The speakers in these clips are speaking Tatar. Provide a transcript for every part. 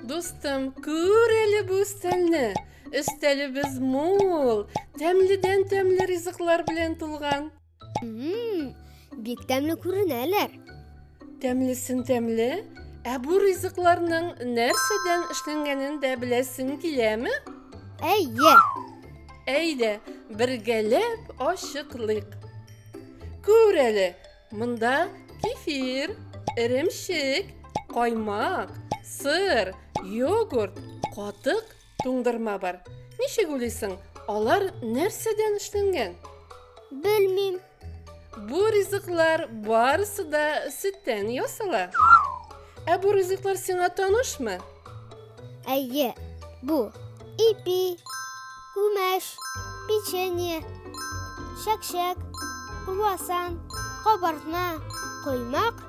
Дустым, күр әле бу өстәлне. Өстәлебез мул, тәмледән тәмле ризыклар белән тулган. Бик тәмле күренәләр. Тәмлесен тәмле, ә бу ризыкларның нәрсәдән эшләнгәнен дә беләсең киләме? Әйе. Әйдә, бергәләп ачыклыйк. Күр әле, монда кефир, эремчек, каймак, сыр, йогурт, катык Туңдырма бар. Ничек уйлыйсың, алар нәрсәдән эшләнгән? Белмим. Бу ризыклар барысы да сөттән ясала. Ә бу ризыклар сиңа танышмы? Әйе, бу ипи, күмәш, печенье, шәкшәк, круассан, кабартма, коймак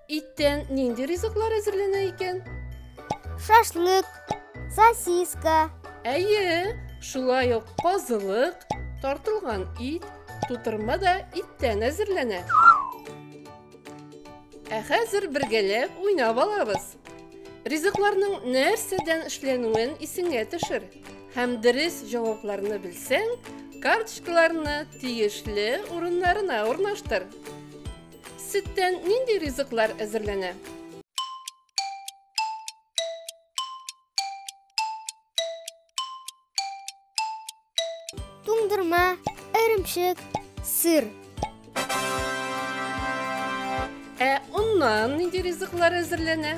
Иттән нинди ризыклар әзерләнә икән? Шашлык, сосиска. Әйе, шулай ук казылык, тартылган ит, тутырма да иттән әзерләнә. Ә хәзер бергәләп уйнап алабыз. Ризыкларның нәрсәдән эшләнүен исеңә төшер һәм дөрес җавапларны белсәң, карточкаларны тиешле урыннарына урнаштыр. Сөттән нинди ризыклар әзерләнә? Туңдырма, эремчек, сыр. Ә оннан нинди ризыклар әзерләнә?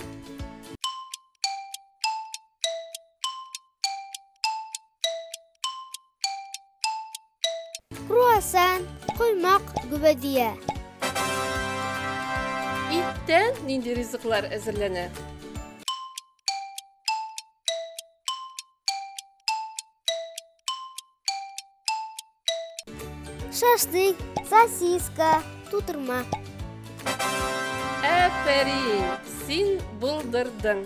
Круассан, коймак, гүбәдия. Иттән нинди ризыклар әзерләнә? Шашлык, сосиска, тутырма. Әфәрин, син булдырдың.